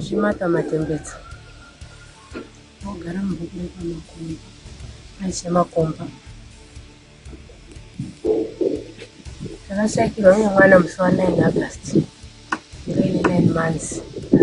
Zvimata matembedza ogara mubhuku repamakomba aise makomba takashakirwa nemwana musi wa 9 august ndoine 9 months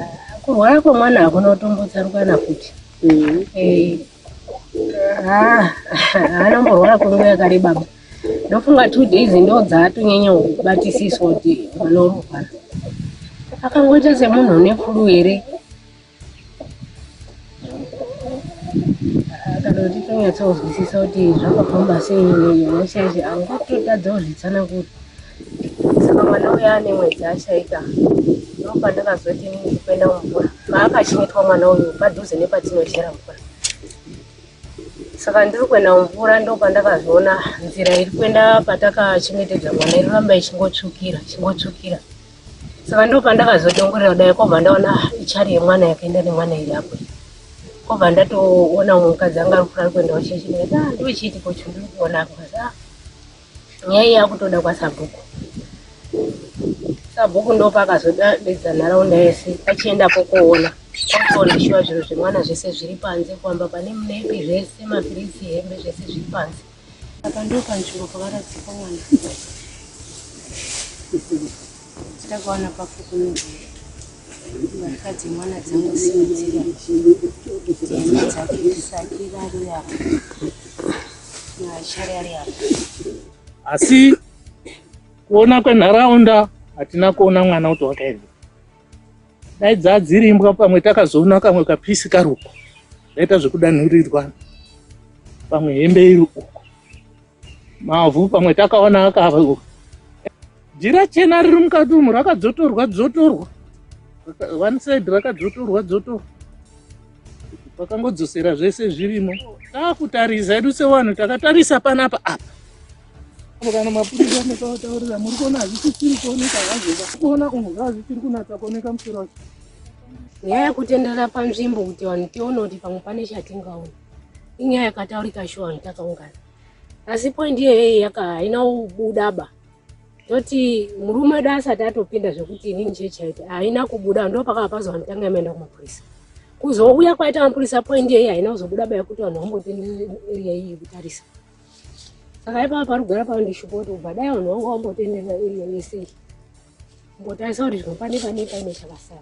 ah, kurwara kwemwana hakuna kutombotsarukana futi mm-hmm. eh, ah, haana mborwara kwenguva yakareba baba ndofunga two days ndo dzaatonyanya kubatisiswa kuti mwana unorwara akangoita semunhu une fulu here kana kuti tonyatsonzwisisa kuti zvakafamba sei nyasha yacho angototadzawo zvitsanangura saka mwana uya ane mwedzi ashaika ndopandakazoti kuenda mumvura paakachengetwa mwana uyu padhuze nepatinochera mvura saka ndiri kuenda mumvura ndopandakazviona nzira iri kuenda patakachengetedza mwana iroramba ichingotsvukira chingotsvukira saka ndopandakazodongorera kudai kobva ndaona ichari yemwana yakaenda nemwana iri apo kobva ndatoona mumwe mukadzi anga ari kufura ari kuendawo chechine ah, ndochiitiko chindiri kuona apa ah, nyaya yakutoda kwasabhuku sabhuku ndopakazodedza nharaunda yese achienda kokoona kokoona shuwa zvinhu zvemwana zvese zviri panze kwamba pane munepi zvese mapiritsi hembe zvese zviri panze apa ndopanzvimbo pakaradzikwa mwana Takawana pafukunura mbatya dzemwana dzangosimudzira dzihembe dzake isati rari apa naachari ari apa asi kuona kwenharaunda hatina kuona mwana kuti wakaenda dai dzadzirimbwa pamwe takazoona kamwe kapisi kari uko zvaita zvekudanhurirwa pamwe hembe iri uko Mavhu pamwe takaona akava jira chena riri mukati umu rakadzotorwa dzotorwa one side rakadzotorwa dzotorwa pakangodzosera zvese zvirimo takutarisa edu sevanhu takatarisa panapa apa apo kana mapurisa anekavataurira muri kuona hazvisisiri kuoneka hazvika kuona umu zvazvisiri kunatsa kuoneka musoro wacho nyaya yekutenderera panzvimbo kuti vanhu tione kuti pamwe pane chatingaona inyaya yakataurika shuwa vanhu takaungana asi point iyeyeyi yaka haina kubudaba toti murume wedu asati atopinda zvekuti inini chee chaiti haina kubuda ndo pakava pazo vanhu tanga yamaenda kumapurisa kuzouya kwaita mapurisa point iyeyi haina kuzobuda baya kuti vanhu vambote area iyi kutarisa saka ipava parugara pava ndishupo kuti kubva dai vanhu vanga vambotenderera area yese iyi mbotarisa kuti zvimwe pane pane paine chakasara